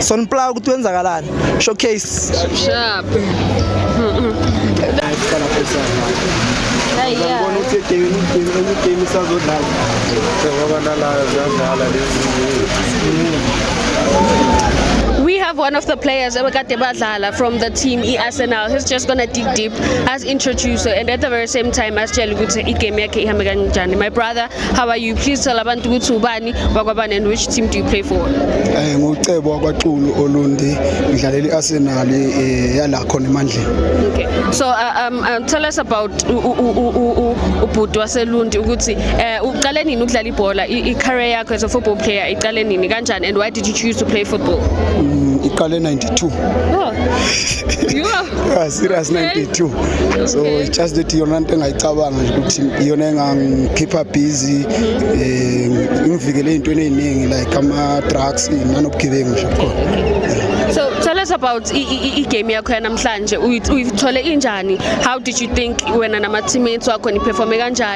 Sonplaw ukuthi wenzakalani? Showcase. Sharp. Ngibona ukuthi game game enye game isazodlala. Ngoba nalayo ziyadlala lezi. We have one of the players abekade badlala from the team i-Arsenal. He's just gonna dig deep as introducer and at the very same time asitshele ukuthi igame yakhe ihambe kanjani. My brother How are you? Please tell abantu ukuthi ubani wakwabani and which team do you play for? Eh ngucebo wakwaXulu Olundi ngidlalela iArsenal eh, yala khona emandleni. Okay. So uh, um, uh, tell us about ubhuti waseLundi ukuthi eh uqale nini ukudlala ibhola i-career yakho as a football player iqale nini kanjani and why did you choose to play football? Mm, iqale 92. Oh. Yeah, serious 92 so it's just that iyona nto engayicabanga nje ukuthi iyona engangikhipha busy eh ngivikele ezintweni eziningi like ama drugs nanobugebengu nje khona So tell us about i- i- i- i-game yakho yanamhlanje. Uyi- Uyithole injani? How did you think wena nama teammates wakho niperforme kanjani?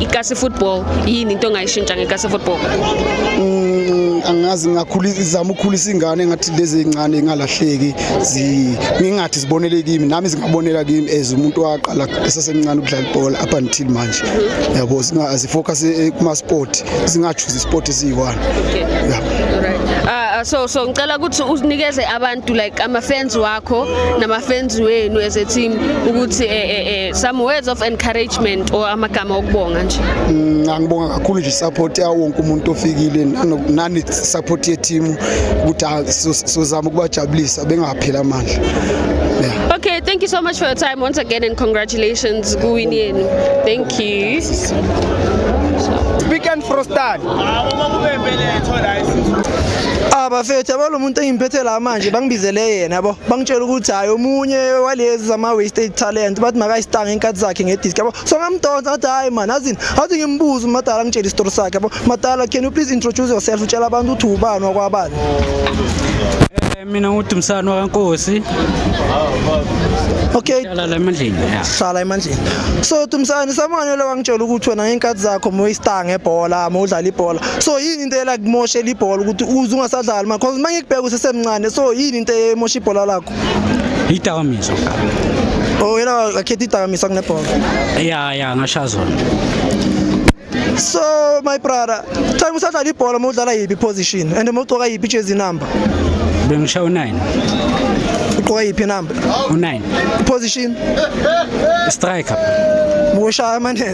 ikasi football yini into ongayishintsha ngekasi football mm, angazi ngizama ukukhulisa ingane ngathi lezi zincane ingalahleki ngingathi zibonele kimi nami zingabonela kimi as umuntu waqala esasemncane ukudlala ibhola up until manje mhm. yabo zifocus eh, kuma-sport zingachuzi isport esiyi-one so so ngicela ukuthi unikeze abantu like ama fans wakho nama fans wenu as a team ukuthi eh eh, eh Some words of encouragement or amagama okubonga nje. Mm, angibonga kakhulu nje support yawo wonke umuntu ofikile nani support ye team ukuthi ah, sizama ukubajabulisa bengaphela amandla. Yeah. Okay, thank you so much for your time once again and congratulations kuwini yenu. Thank you. Speak and frostan. Abafethu abalomuntu engimphethe la manje bangibizele yena. yabo bangitshela ukuthi hayi omunye walezi zama wasted talent bathi makayistanga inkathi zakhe ngedisk yabo so ngamdonsa ngathi hayi man azini athi ngimbuze umadala ngitshela isitori sakhe yabo madala can you please introduce yourself utshela abantu ukuthi ubani wakwabani eh, mina ngudumsana wakankosi okay hlala emandleni ya hlala emandleni so dumsana samane lo wangitshela ukuthi wena ngenkathi zakho moyistanga ebhola mawudlala ibhola so yini Intela kumoshe libhola ukuthi uze ungasadlali ma cause mangikubheka usesemncane so yini into emosha ibhola lakho? Idakamizwa. Oh yena akhetha idakamizwa kunebhola. Yeah yeah ngasha zona. So my brother, time usadlala ibhola uma udlala yipi position and uma ugcoka yipi jersey number? Bengisha u9. Ugqoka yiphi number? U9. Position? Striker. Mushaya amanethe.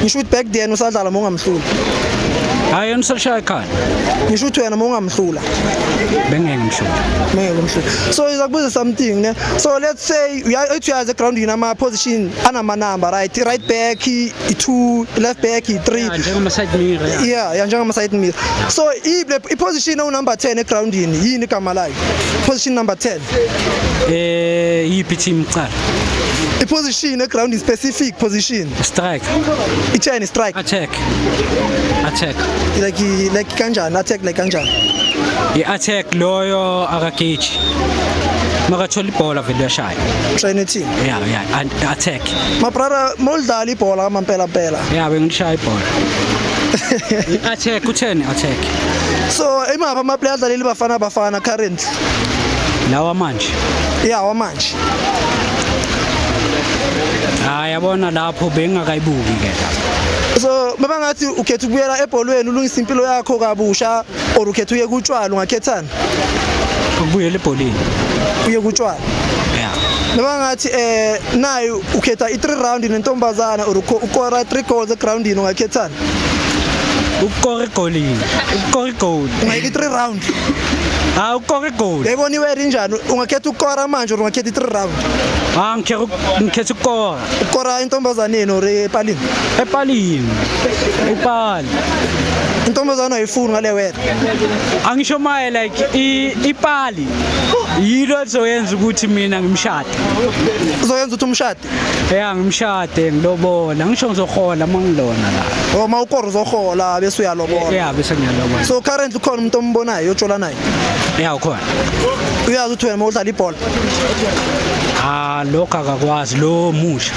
ngisho ukuthi back then usadlala mongamhlula hayi yena usashaya ekhaya ngisho ukuthi wena mongamhlula bengeke ngimhlula bengeke ngimhlula so iza kubuza something ne so let's say uyathi uyazi ground yini ama position anama number right right back i2 left back i3 njengama side mirror yeah yeah njengama side mirror so i position u number 10 e ground yini yini igama layo position number 10 Eh, yiphi team cha? I-position eground specific position. Strike. Itheni strike? Attack. Attack. Like like kanjani attack like kanjani? I-attack loyo akageji. makathola ibhola vele uyashaya trainer team yeah yeah and attack mabrara molidlala ibhola kamampela mpela yeah bengishaya ibhola attack utheni attack so imapha ama player adlaleli bafana bafana current lawa manje ya wamanje hayi yabona lapho bengakayibuki ke lapho so baba ngathi ukhetha ukubuyela ebholweni ulungisa impilo yakho kabusha or ukhetha uye kutshwala ungakhethana ukubuyela ebholeni uye kutshwala ya baba ngathi eh naye ukhetha i3 round nentombazana or ukho- ukora 3 goals egroundini ungakhethana ukukora igolini ukukora igoli ungayeka i3 round hayi ukukora igoli yayibona iweri injani ungakhetha ukukora manje or ungakhetha i-three round ha ngikhetha ukukora ukukora intombazaneni or epalini epalini ipali intombazane ayifuni ngale wena angisho maye like ipali yilo lizoyenza ukuthi mina ngimshade uzoyenza ukuthi umshade ya ngimshade ngilobola ngisho ngizohola uma ngilona la oh, uma ukora uzohola bese uyalobola ya bese ngiyalobola so currently ukhona umuntu ombonayo otshola naye ya ukhona uyazi ukuthi wena udlala ibhola ah lokho akakwazi lo musha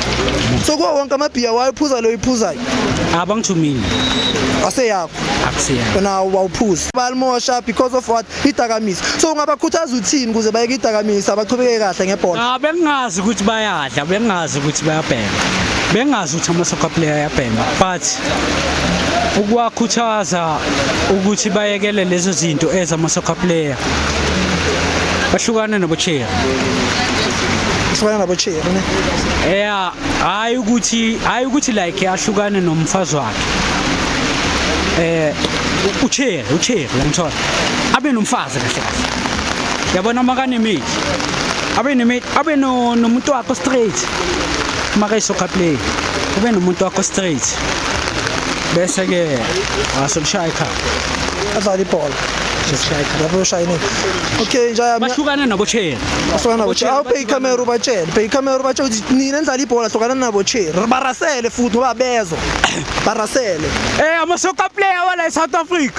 so kuwo wonke amabhiya wayephuza lo iphuzayo abangithumile aseyakho akusiyakho wena wawuphuza balimosha because of what idakamisa so ungabakhuthaza uthini ukuze bayeke idakamisa bachubeke kahle ngebhola ah bengazi ukuthi bayadla bengazi ukuthi bayabhema bengazi ukuthi amasoccer player ayabhema but ukuwakhuthaza ukuthi bayekele lezo zinto ezamasoccer player bahlukane nobocheri ahlukana nabocheri ne yeah hayi ukuthi hayi ukuthi like ahlukane nomfazi wakhe eh ucheri ucheri ngimthola abe nomfazi kahle kahle yabona makanemate abe nemate abe nomuntu wakho straight makayisoccer play ube nomuntu wakho straight bese ke wasokushaya ikhaya adlala ibhola lapho ushayinile okay njaya bahlukana nabo chair bahlukana nabo chair awuphe ikhamera ubatshele phe ikhamera ubatshele ukuthi nina nidlala ibhola hlukana nabo chair barasele futhi ngoba bezwa barasele eh ama soccer player wala e South Africa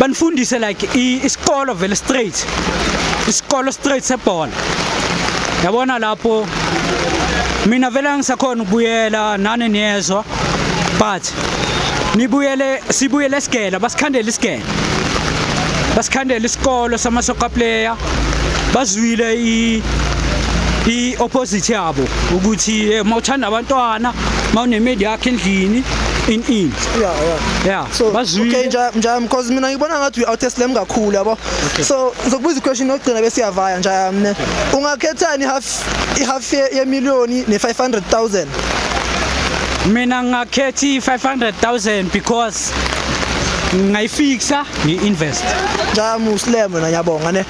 banifundise like isikolo vele straight isikolo straight sebhola yabona lapho mina vele angisakhona ukubuyela nani niyezwa but nibuyele sibuyele esigela basikhandela isigela basikhandela isikolo samasoka player bazwile i i opposite yabo ukuthi eh, mawuthanda abantwana mawunemedi yakhe endlini in in yeah yeah yeah so Bazwile. okay njam njam because mina ngibona ngathi uyi outest lem kakhulu yabo so ngizokubuza iquestion yokugcina bese uyavaya njam ne ungakhethani half i half ye ye million ne 500000 mina ngingakhetha i-500000 because ngayifixa ngi-invest njam uslem wena ngiyabonga ne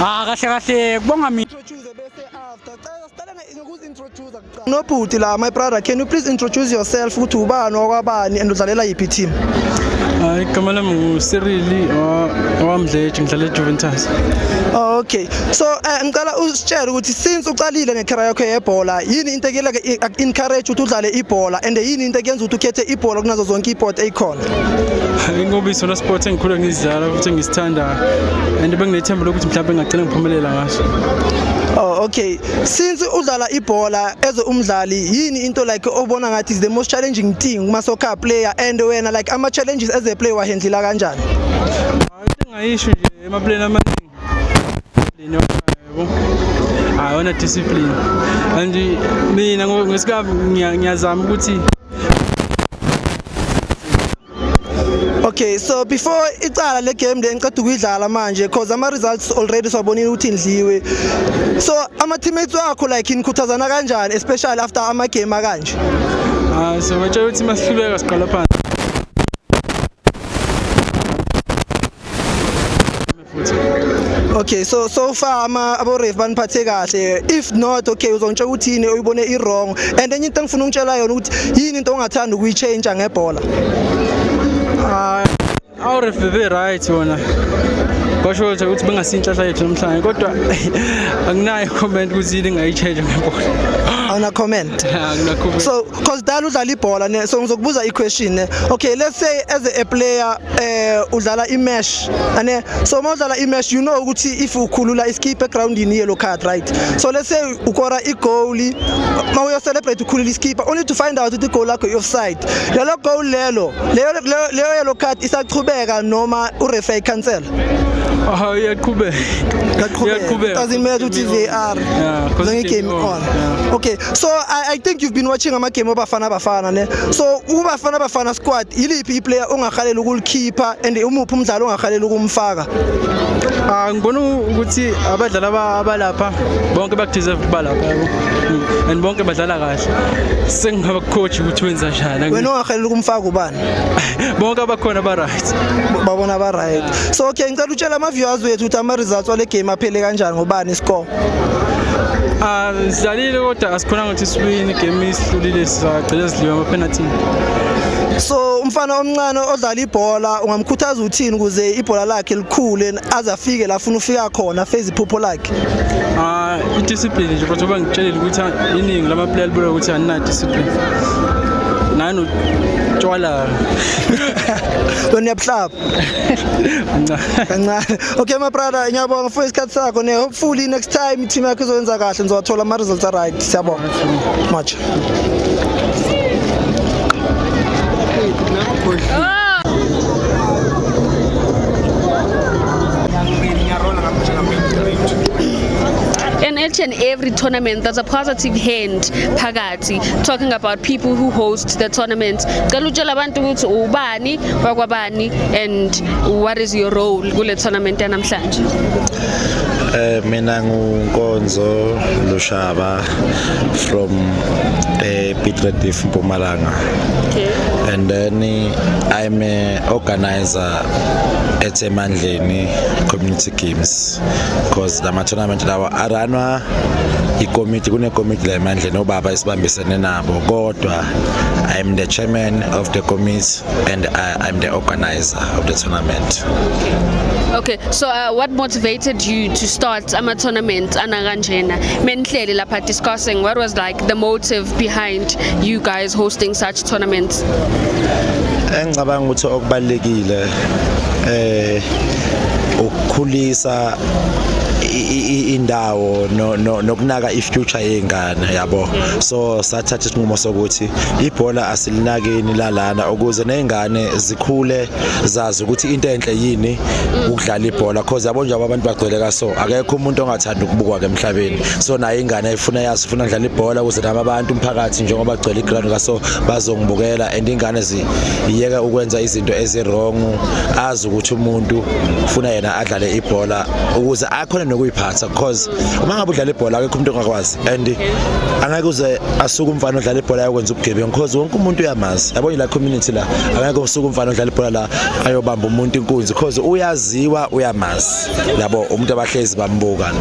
ah kahle kahle kubonga mina introduce bese after cela sicela ngokuzi introduce Nobhuti la my brother can you please introduce yourself ukuthi ubani wakwabani and udlalela yiphi team? Hayi igama lami nguSirili owamdleje ngidlala eJuventus. Oh, okay. So eh, ngicela usitshele ukuthi since uqalile ngecareer yakho yebhola yini into ekuyela encourage ukuthi udlale ibhola and yini into ekuyenza ukuthi ukhethe ibhola kunazo zonke isport eyikhona? Ingoba isona sport engikhule ngizidlala futhi ngisithandayo and bengithemba lokuthi mhlawumbe ngagcina ngiphumelela ngaso. Oh okay. since udlala ibhola as umdlali yini into like obona ngathi is the most challenging thing kuma soccer player and wena like ama challenges as a player wahendlela kanjani ngayisho nje emapleni amaningi leni yabo hayi ona discipline and mina ngesikhathi ngiyazama ukuthi Okay, so before icala le game le ngiqeda ukuyidlala manje because ama results already siwabonile ukuthi indliwe. So ama teammates wakho like inikhuthazana kanjani especially after ama game akanje? Ah, so batshela ukuthi masihluleka siqala phansi. okay so so far ama aboref baniphathe kahle if not okay uzongitshela ukuthi yini oyibone i-wrong and enye into engifuna ukutshela yona ukuthi yini into ongathanda ukuyitshentsha ngebhola ah, aboref bebe right wona basho nje ukuthi bengasinhlahla yethu namhlanje kodwa anginayo comment ukuthi yini engayitshentsha ngebhola awuna comment so cause dala udlala ibhola ne so ngizokubuza i-question ne okay let's say as a player eh udlala imesh ane so uma udlala imesh you know ukuthi if ukhulula iskipha egroundini yellow card right so let's say ukora igoal ma uyo celebrate ukhulula iskipha only to find out ukuthi igoal lakho i-offside lelo goal lelo leyo leyo yellow card isachubeka noma ureferee cancel Oh, iyaqhubeka. Iyaqhubeka. Doesn't matter ukuthi VAR. Yeah, ngeke game on. Yeah. Okay, so I, I think you've been watching amagame obafana bafana ne so ubafana bafana squad yiliphi iplayer ongahalela ukulikhipha and umuphi umdlalo ongahalela ukumfaka ah ngibona ukuthi abadlali abalapha bonke bakudeserve ukuba lapha yabo mm, and bonke badlala kahle sengingaba coach ukuthi wenza njani wena ongahalela ukumfaka ubani bonke abakhona ba right babona ba right so okay ngicela utshela ama viewers wethu ukuthi ama results wale game aphele kanjani ngobani score Ah, sidlalile kodwa asikhonanga ukuthi siwine game isihlulile sizagcina sidliwe amapenalthini so umfana omncane odlala ibhola ungamkhuthaza uthini ukuze ibhola lakhe likhule aze afike la funa ufika khona feze iphupho lakhe ah idiscipline nje futhi uba ngitshelile ukuthi iningi lama player libuya ukuthi anina discipline nani utshwala lona yabuhlaba kancane okay my brother ngiyabonga for isikhathi sakho ne hopefully next time team yakho izoyenza kahle ngizowathola ama results a right siyabonga much and each and every tournament there's a positive hand phakathi talking about people who host the tournament cela utshela abantu ukuthi ubani wakwabani and what is your role kule tournament yanamhlanje Eh mina ngunkonzo Lushaba from eh Pitrediff Mpumalanga. Okay. And then I'm a organizer at Emandleni Community Games. tournament because lama tournament lawa aranwa ikomiti kunekomiti la emandleni obaba esibambisene nabo kodwa i am the chairman of the committee and I, i'm the organizer of the tournament Okay, so uh, what motivated you to start ama tournament anakanjena? Menihleli lapha discussing what was like the motive behind you guys hosting such tournaments? Engicabanga ukuthi okubalekile eh ukukhulisa indawo nokunaka ifuture yezingane yabo so sathatha isinqumo sokuthi ibhola asilinakeni lalana ukuze nezingane zikhule zazi ukuthi into enhle yini ukudlala ibhola because yabo nje abantu bagcwele kaso akekho umuntu ongathanda ukubukwa ke emhlabeni so nayo ingane ifuna yazi ifuna ngidlala ibhola ukuze nabo abantu umphakathi njengoba gcwele iground kaso bazongibukela and ingane ziyeka ukwenza izinto ezirong azi ukuthi umuntu ufuna yena adlale ibhola ukuze akhone nokuyiphatha because uma ngabe udlala ibhola akekho umuntu ongakwazi and angeke uze asuke umfana odlala ibhola ayokwenza ubugebengu because wonke umuntu uyamazi yabona la community la angeke usuke umfana odlala ibhola la ayobamba umuntu inkunzi because uyaziwa uyamazi yabo umuntu abahlezi bambuka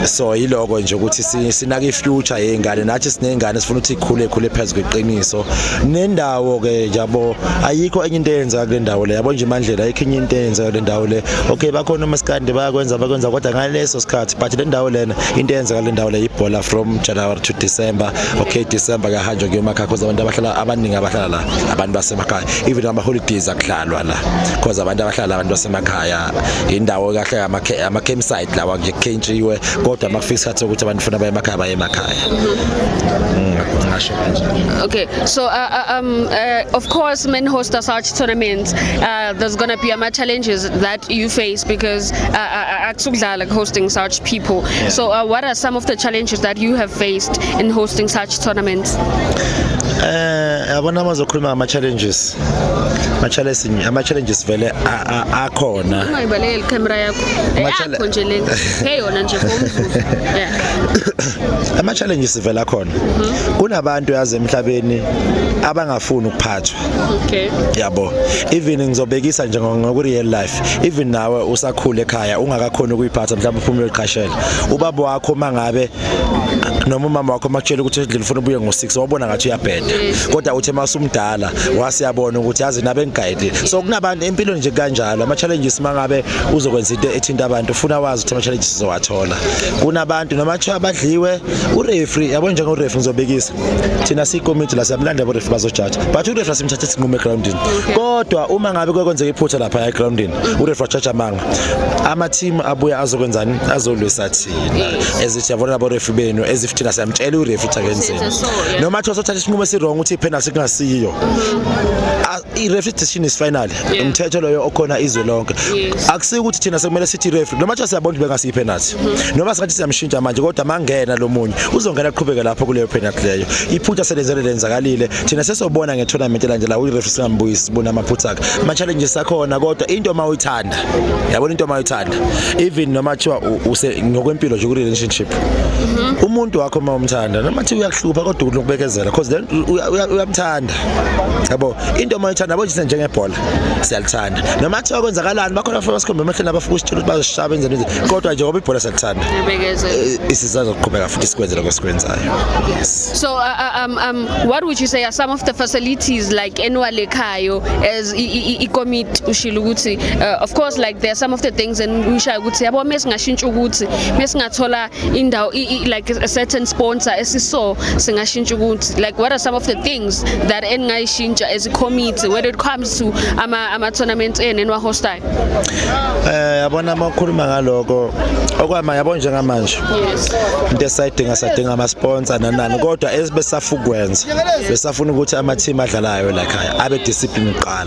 so yiloko nje ukuthi sinaka ifuture yezingane nathi sinezingane sifuna ukuthi ikhule khule phezulu kweqiniso nendawo ke yabo ayikho enye into eyenza kule ndawo le yabo nje mandlela ayikho enye into eyenza kule ndawo le okay bakhona umaskandi bayakwenza bakwenza kodwa ngaleso sikhathi but le ndawo lena into eyenza kule ndawo le ibhola from January to December okay December nje kuyemakhaya cause abantu abahlala abaningi abahlala la abantu basemakhaya even ama holidays akudlalwa la cause abantu abahlala abantu basemakhaya indawo kahle ama ama campsite lawa nje khentshiwe kodwa makufika isikhathi sokuthi abantu funa baye emakhaya baye emakhaya mm, ngasho kanje okay so uh, uh, um uh, of course men host such tournaments uh, there's going to be ama challenges that you face because uh, uh, uh, akusukudlala like hosting such people yeah. so uh, what are some of the challenges that you have faced in hosting such tournaments eh yabona mazokhuluma ngama challenges ama challenges ama challenges vele akhona ungayibaleke le camera yakho yakho nje le hey yona nje ngomzuzu yeah ama challenges vele akhona mhm. kunabantu yazi emhlabeni abangafuni ukuphatha thathwa okay yabo even ngizobekisa nje ngoku real life even nawe usakhule ekhaya ungakakhona ukuyiphatha mhlawumbe uphumule uqashela ubaba wakho mangabe noma umama wakho makutshela ukuthi endlini ufuna ubuye ngo6 wabona ngathi uyabheda kodwa uthe masumdala wasiyabona ukuthi yazi nabe ngigayide so kunabantu empilo nje kanjalo ama challenges mangabe uzokwenza into ethinta abantu ufuna wazi ukuthi ama challenges uzowathola kunabantu noma kuthiwa badliwe ureferee yabo njengo referee ngizobekisa thina siyikomiti la siyamlanda abarefi bazojaja but urefi asimthathe sinqume egroundini kodwa uma ngabe kwekwenzeka iphutha lapha egroundini urefi wajaja amanga amathimu abuya azokwenzani azolwisa thina ezithi yabona abarefi benu ezif thina siyamtshela urefi ukuthi akenzeni noma thiwa sothatha isinqumo esirong ukuthi ipenalty kungasiyo i-referee decision is final Yeah. umthetho loyo okhona izwe lonke Yes. akusike ukuthi thina sekumele sithi referee noma kuthiwa siyabona ukuthi bengasiyi penalty Mm-hmm. noma singathi siyamshintsha manje kodwa mangena lo munye uzongena aqhubeke lapho kuleyo penalty leyo iphutha selenzele lenzakalile thina sesobona nge-tournament elandelayo uyi-referee singambuyisi sibone amaphutha akhe ama-challenges akhona kodwa into uma uyithanda yabona into uma uyithanda even noma kuthiwa u- use ngokwempilo nje kwi-relationship umuntu wakho uma umthanda noma thiwa uyakuhlupha kodwa unokubekezela because then uya- uya- uyamthanda yakhe yabo into uma ithanda yabo nje njengebhola siyalithanda noma kuthiwa kwenzakalani bakhona abafana basikhombe emehleni abafuna usitshela ukuthi bazosishaya benze nje kodwa nje ngoba ibhola siyalithanda eh, isizazo kuqhubeka futhi sikwenze lokho sikwenzayo yes so uh, uh, um, um, what would you say are some of the facilities like enwale khayo as ikomiti ushilo ukuthi uh, of course like there are some of the things and ushayo ukuthi yabo mesingashintsha ukuthi mesingathola indawo like a certain sponsor esiso singashintsha ukuthi like what are some of the things that eningayishintsha as a committee when it comes to ama ama tournaments enu enwa hostayo eh yabona uma ukhuluma ngaloko okwama yabo njengamanje yes into esidinga sadinga ama sponsor nanani kodwa esibesafukwenza besafuna ukuthi ama team adlalayo la khaya abe discipline qala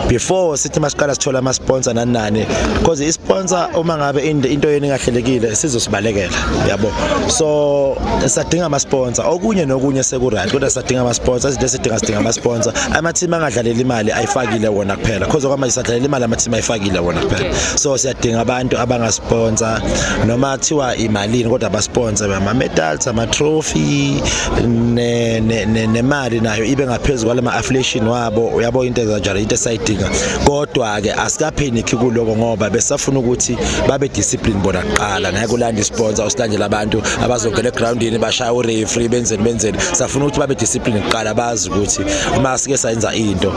before sithi masiqala sithola ama sponsor nani nani because i sponsor uma ngabe into yenu ingahlelekile sizosibalekela yabo so sadinga ama sponsor okunye nokunye seku right kodwa sadinga ama sponsor izinto esidinga sidinga ama sponsor ama team angadlalela imali ayifakile wona kuphela because okwamanje sadlalela imali ama team ayifakile wona kuphela so siyadinga abantu abanga sponsor noma kuthiwa imalini kodwa ba sponsor ama medals ama trophy ne nemali nayo ibe ngaphezulu kwalama affiliation wa yabo uyabo into ezajala into esayidinga kodwa ke asikapheniki kuloko ngoba besafuna ukuthi babe discipline bona kuqala ngeke ulande isponsor usilandele abantu abazongena egroundini bashaya ureferee benzeni benzeni safuna ukuthi babe discipline kuqala bazi ukuthi uma sike sayenza into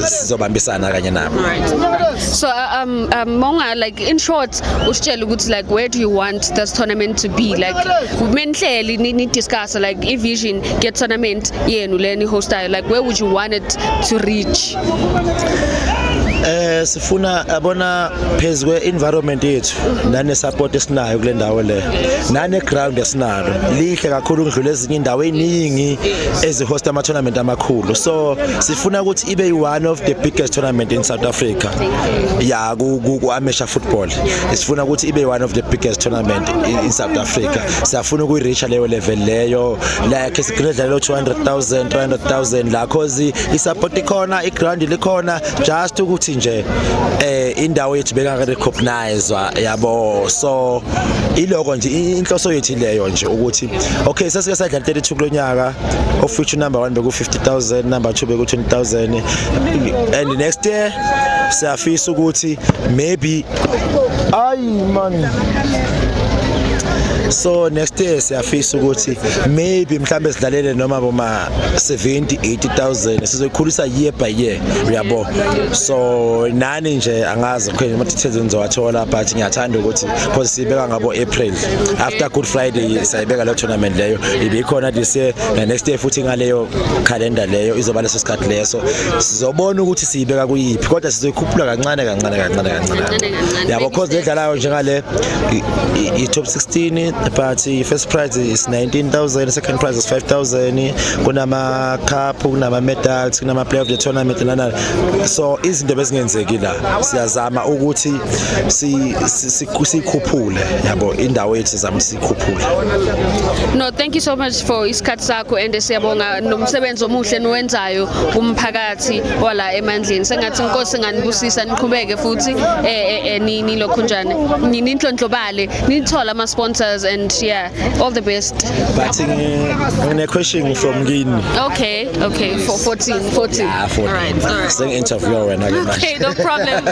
sizobambisana kanye nabo so uh, um um monga like in short usitshela ukuthi like where do you want this tournament to be like menhleli ni discuss like i vision get tournament yenu leni hostayo like where would you want it to reach eh sifuna abona phezwe kwe environment yethu nane support esinayo kule ndawo le nane ground esinalo lihle kakhulu ngidlula ezinye indawo eziningi ezi host ama tournament amakhulu so sifuna ukuthi ibe one of the biggest tournament in South Africa ya ku ku amateur football sifuna ukuthi ibe one of the biggest tournament in, in South Africa siyafuna ukuyireacha leyo level leyo like sigcine dlalo 200000 300000 la cause isupport ikhona iground likhona just ukuthi nje eh indawo yethu beka recognize yabo so iloko nje inhloso yethu leyo nje ukuthi okay sesike sadlala 32 kulonyaka of future number 1 beku 50000 number 2 beku 20000 and next year siyafisa ukuthi maybe Ay man. so next year siyafisa ukuthi maybe mhlambe sidlalele noma boma 70 80000 sizoyikhulisa year by year uyabo so nani nje angazi khona ama details ngizowathola but ngiyathanda ukuthi because sibeka ngabo April after good friday sayibeka le tournament leyo ibikhona this year na next year futhi ngaleyo calendar leyo izoba leso sikhathi leso sizobona ukuthi siyibeka kuyiphi kodwa sizoyikhuphula kancane kancane kancane kancane yabo cause ledlalayo njengale i-top 16 but i-first prize is 19000 second prize is 5000 kunama-cup kunama-medals kunama-player of the tournament nanani so izinto bezingenzeki la siyazama ukuthi siyikhuphule yabo indawo yethu sizama siyikhuphule no thank you so much for isikhathi sakho and siyabonga nomsebenzi omuhle niwenzayo kumphakathi ngathi wala emandleni sengathi inkosi nganibusisa niqhubeke futhi eh, eh, eh, nini lokho njani ninhlonhlobale nithola ama sponsors and yeah all the best but ngine question from kini okay okay for 14 14 yeah, 14 all right all right sing interview wena ke manje okay no problem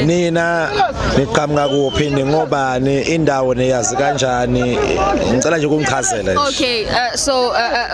nina niqhamuka kuphi ningobani indawo neyazi kanjani ngicela nje ukungichazela okay uh, so uh, uh,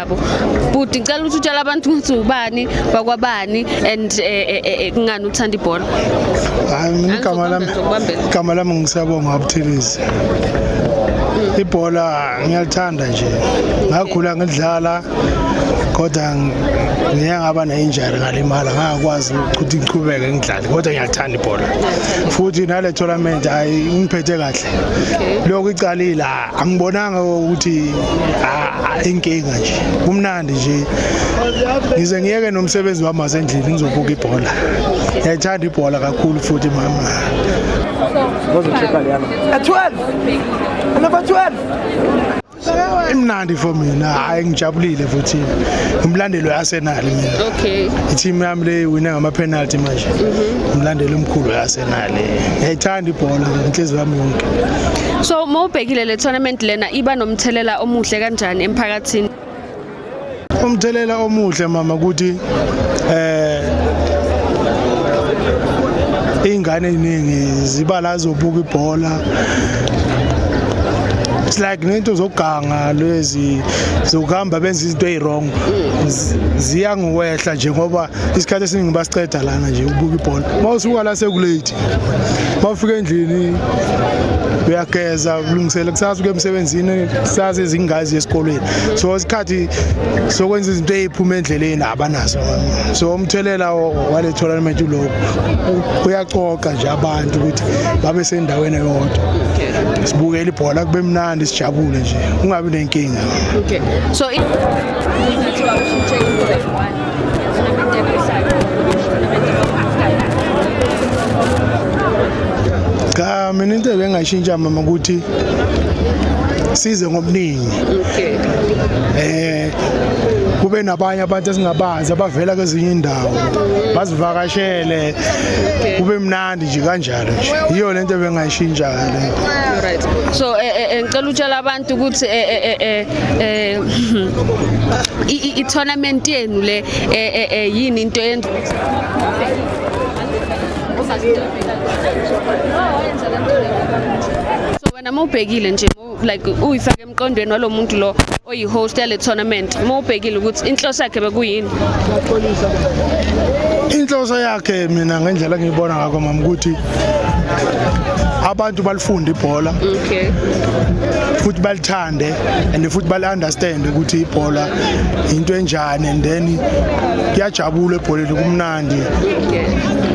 yabo bhuti ngicela ukuthi utshela abantu ukuthi ubani wakwabani and eh, eh, eh, eh, kungani uthanda ibhola hayi mina igama lami Angizokubambela. igama lami ngisabonga abuthelezi ibhola ngiyalithanda nje ngakhula ngidlala kodwa ng- ngiye ngaba ne-injury ngalimala ngangakwazi ukuthi ngiqhubeke ngidlale kodwa ngiyalithanda ibhola futhi nale tournament ayi ingiphethe kahle lokhu icalile ah, angibonanga ukuthi ah, inkinga nje kumnandi nje ngize ngiyeke nomsebenzi wami wasendlini ngizobuka ibhola ngiyayithanda ibhola kakhulu futhi mama imnandi for mina hayi ngijabulile futhi ngimlandeli we-arsenal mina okay ithimu yami le wine ngama-penalty manje mhm. ngimlandeli omkhulu we-arsenal ngiyayithanda ibhola inhliziyo yami yonke so uma ubhekile le tournament lena iba nomthelela omuhle kanjani emphakathini umthelela omuhle mama ukuthi eh ingane eziningi ziba la zobuka ibhola it's like nento zoganga lezi zokuhamba benza izinto eziwrong ziya ngiwehla nje ngoba isikhathi esiningi basiceda lana nje ubuka ibhola uma usuka la sekulate uma ufika endlini uyageza ulungisele kusasa uke emsebenzini kusasa izingazi esikolweni so isikhathi sokwenza izinto eziphuma endleleni abanaso so umthelela wale tournament uloku uyacoca nje abantu ukuthi babe sendaweni eyodwa sibukele ibhola kube mnandi sijabule nje ungabi nenkinga okay so cha mina into ebengayishintsha mama ukuthi size ngobuningi okay eh kube nabanye abantu esingabazi abavela kwezinye indawo bazivakashele kube mnandi nje kanjalo nje yiyo lento ebengayishintsha leyo right so eh, eh, eh, ngicela utshela abantu Kodwa ukuthi eh eh eh eh, eh i tournament yenu le eh, eh eh yini into yenza So wena mawubhekile nje like uyifake emqondweni walomuntu lo oyi host yale tournament mawubhekile ukuthi inhloso yakhe bekuyini Inhloso yakhe mina ngendlela ngiyibona ngakho mama ukuthi abantu balifunda ibhola okay futhi balithande and futhi bali understand ukuthi ibhola into enjani and then kuyajabula ebholeni kumnandi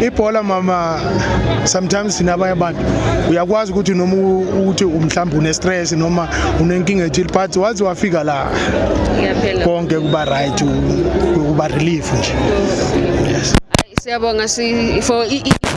ibhola mama sometimes sina abanye abantu uyakwazi ukuthi noma ukuthi umhlawumbe une stress noma unenkinga ethile but waze wafika la konke kuba right kuba relief nje yes siyabonga si for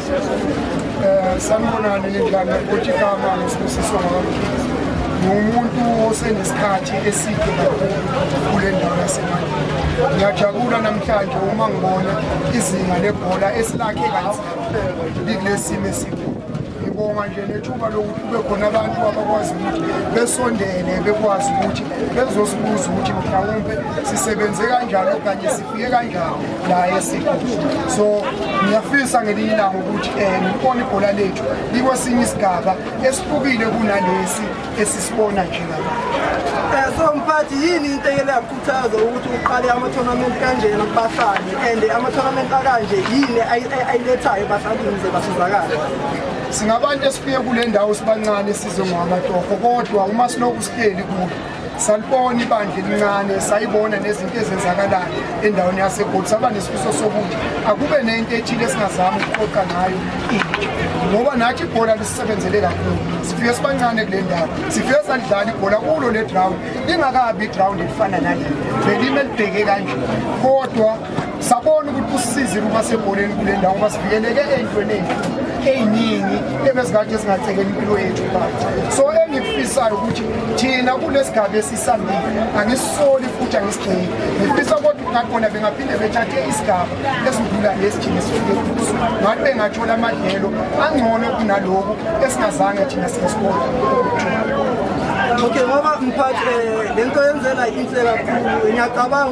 Eh, sanibonani nindlane futhi igama ngisibusiso ngami ngumuntu osenesikhathi eside kakhulu kule ndawo yasemandini ngiyajabula namhlanje uma ngibona izinga lebhola esilakhe kanzima likule simo esikhulu ngiyabonga nje nethuba lokuthi kube khona abantu abakwazi ukuthi besondele bekwazi ukuthi bezosibuza ukuthi mhlawumbe sisebenze kanjani okanye sifike kanjani la esigodi so ngiyafisa ngelinye ilanga ukuthi um eh, ngibone ibhola lethu likwesinye isigaba esihlukile kunalesi esisibona nje ngaba eh, so mphathi yini into ekele yakukhuthaza ukuthi uqale ama-tournament kanjena kubahlali and ama-tournament akanje yini ayilethayo ebahlalini ze basizakale singabantu esifike kule ndawo sibancane size ngoamatoho kodwa uma silokhu sihleli kulo salibona ibandla elincane sayibona nezinto ezenzakalayo endaweni yasegoli saba nesifiso sokuthi akube nento ethile esingazama ukuqoqa ngayo ngoba nathi ibhola lisisebenzele kakhulu sifike sibancane kule ndawo sifike salidlala ibhola kulo le ground lingakabi iground elifana nale belime libheke kanje kodwa sabona ukuthi kusisize ukuba sebholeni kule ndawo ngoba sivikeleke ey'ntweni ey'ningi ebezikade ezingacekela impilo yethu phansi so engikufisayo ukuthi thina kunesigaba esisambile angisisoli futhi angisigceki ngifisa kodwa ngakhona bengaphinde bethathe isigaba esidlula lesi thina sifike kuso ngathi bengathola amadlelo angcono kunaloku esingazange thina sikesibona okay ngoba mphathi um le nto yenzela inhle kakhulu ngiyacabanga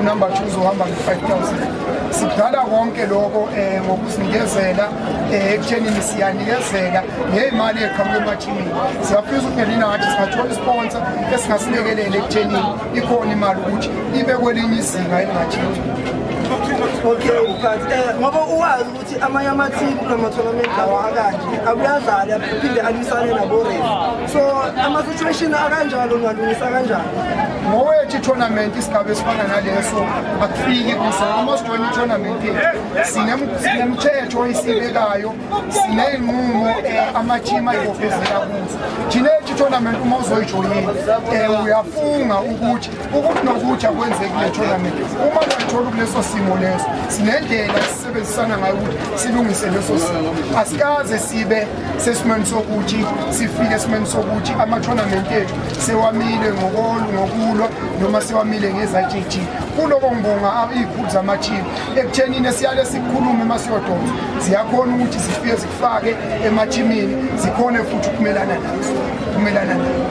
unumber two uzohamba nge-5000 sidala konke lokho um eh, ngokuzinikezela um eh, ekuthenini siyanikezela ngeyimali eqhamuke emathimini siyafisa ukuphelina ngathi singathola isponsa esingasilekelele ekuthenini ikhona imali ukuthi ibe kwelinye izinga elingathini okay, eh, ngoba uwazi amanye amathimu kunamathonamenti lawa akanje akuyadlali aphinde alwisane naborefu so ama-situation akanjalo ungalungisa kanjani ngowethu itournament isigaba esifana naleso akufiki kuso almost one itournament sinemthetho oyisibekayo sineyinqumo um eh, amathimu ayibophezela kuzo thina ethi itournament uma uzoyijoyini um eh, uyafunga ukuthi Okunokutsha kwenzeki kule tournament uma kayitholi kuleso simo leso sinendlela esisebenzisana ngayo ukuthi silungise leso simo asikaze sibe sesimweni sokuthi sifike esimweni sokuthi ama-tournament ethu sewamile ngokolu ngokulwa noma sewamile ngezajiji kuloko ngibonga iy'khulu zamathimu ekuthenini esiyale sikhulume uma siyodonsa ziyakhona ukuthi zifike fake emathimini zikhone futhi ukumelana nazo ukumelana nazo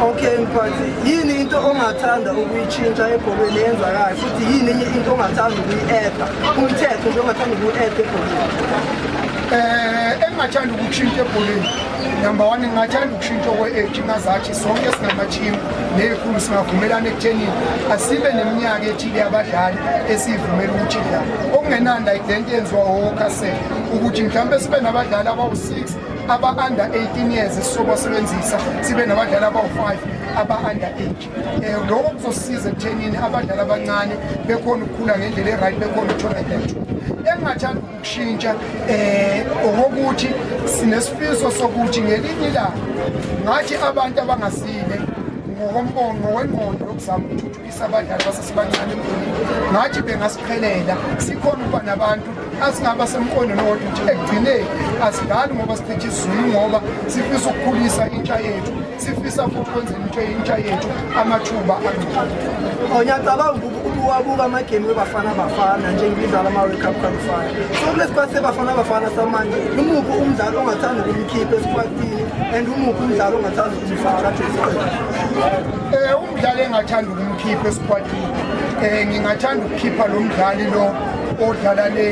okay mphathi yini into ongathanda ukuyitshintsha ebholweni eyenzakayo futhi yini enye into ongathanda ukuyi-eda umthetho nje ongathanda ukuwu-eda ebholweni um engingathanda ukushintsha ebholeni number one ngingathanda ukushintsha okwe-age ngazathi sonke singamathimu neyikhulu singavumelana ekuthenini asibe neminyaka ethile yabadlali esiyivumela ukuthi dlala okungenanda identi yenziwa wokasela ukuthi mhlawumbe sibe nabadlali abawu-6 aba-under 18 years esizobasebenzisa sibe nabadlali abawu-5 aba-under age um eh, lokho kuzosiza ekuthenini abadlali abancane bekhona ukukhula ngendlela e-right bekhona ukuthola into engingathanda ukushintsha um okokuthi sinesifiso sokuthi ngelinye ilanga ngathi abantu abangasile ngokombono ngokwengqondo yokuzama ukuthuthukisa abadlali basesebancane ngathi bengasiqhelela sikhona ukuba nabantu asingaba semqondweni wodwa ukuthi ekugcineni asidlali ngoba sichithi isizulu ngoba sifisa ukukhulisa intsha yethu sifisa futhi kwenzela into intsha yethu amathuba angcono oh, ngiyacabanga ukuwabuka amagemi webafana bafana njengibidlala ama-world cup qualifier so kulesi kwathi sebafana bafana samanje umuphi umdlalo ongathanda ukumkhipha esikwatini and umuphi umdlalo ongathanda ukumfaka Umdlali engathanda ukumkhipha esikhwadini um eh, ngingathanda ukukhipha lo mdlali lo odlala le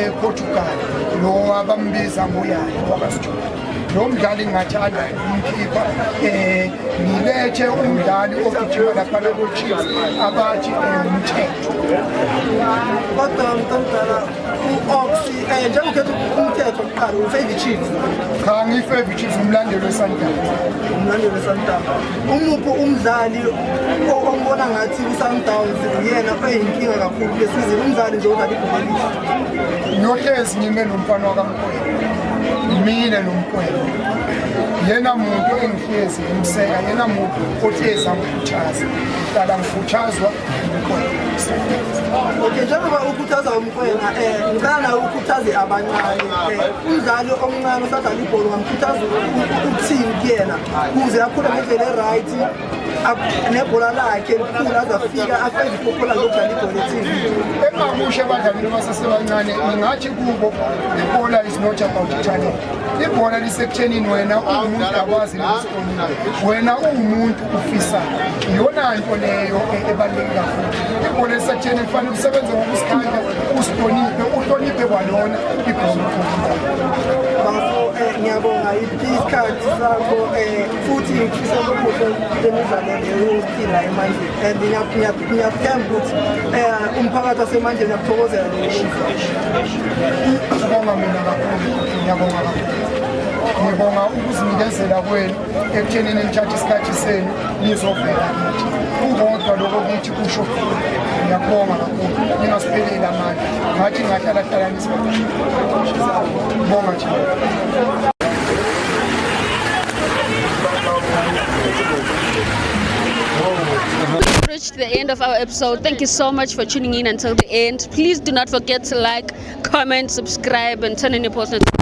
eportugal eh, lo abambiza ngoyayo wakasijula lo mdlali ngingathanda umkhipha um eh, ngilethe umdlali ogijima laphana kochiefs abathi umthetho kodwa mntomdala u-ox um njengokhetha umthetho kuqala ufave chiefs cha ngiyi-fave chiefs umlandelo wesantaba umlandelo wesantaba umuphi umdlali ombona ngathi kwi-sundowns uyena oyinkinga kakhulu kule sizini umdlali nje odlala ibhomelisa ngiyohlezi ngime nomfana wakamkwelo mina nomkwelo yena muntu engihlezi ngimseka yena muntu ohlezi angikhuthaza ngihlala ngikhuthazwa umkwelo okay njengoba ukhuthaza umkwena um eh, ngicala ukhuthaze abancane eh, umdlali omncane osadlala ibhola ungamkhuthaza ukuthini kuyena kuze akhule ngendlela e-right nebhola lakhe likhulu azafika afeze iphupho lakhe lokudlala ibhola ethini engingakusho ebadlalini abasasebancane ngingathi kubo ibhola is not about talent ibhola lisekuthenini wena uwumuntu akwazi wena uwumuntu ufisa iyona nto leyo e- ebaluleke kakhulu ibhola esatheni kufanele usebenze ngokusikhandla usihloniphe uhloniphe kwalona ibhola bafo eh, ngiyabonga isikhathi sakho eh, futhi ngifisa ukubuhle lemidlalo leyophila emandleni and ngiyakuthemba ukuthi eh, umphakathi wasemandleni uyakuthokozela ngiyabonga mina kakhulu ngiyabonga kakhulu ngibonga ukuzinikezela kwenu ekuthenini nithathe isikhathi senu nizovela kithi kukodwa lokho kuthi kusho ngiyakubonga kakhulu ningasipheleli amandla ngathi ngahlalahlalanisa bonga nje reached the end of our episode. Thank you so much for tuning in until the end. Please do not forget to like, comment, subscribe, and turn on your post notifications.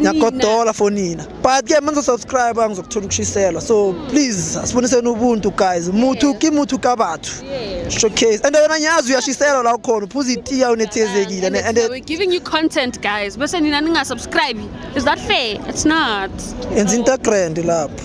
ngiyagodola for nina but ke manje subscribe angizokuthola ukushiselwa so please asiboniseni ubuntu guys muthu ki muthu ka bathu showcase and wena ngiyazi uyashiselwa la ukhona uphuza itiya unethezekile and, and, and we're giving you content guys bese nina ninga subscribe is that fair it's not enza into grand lapho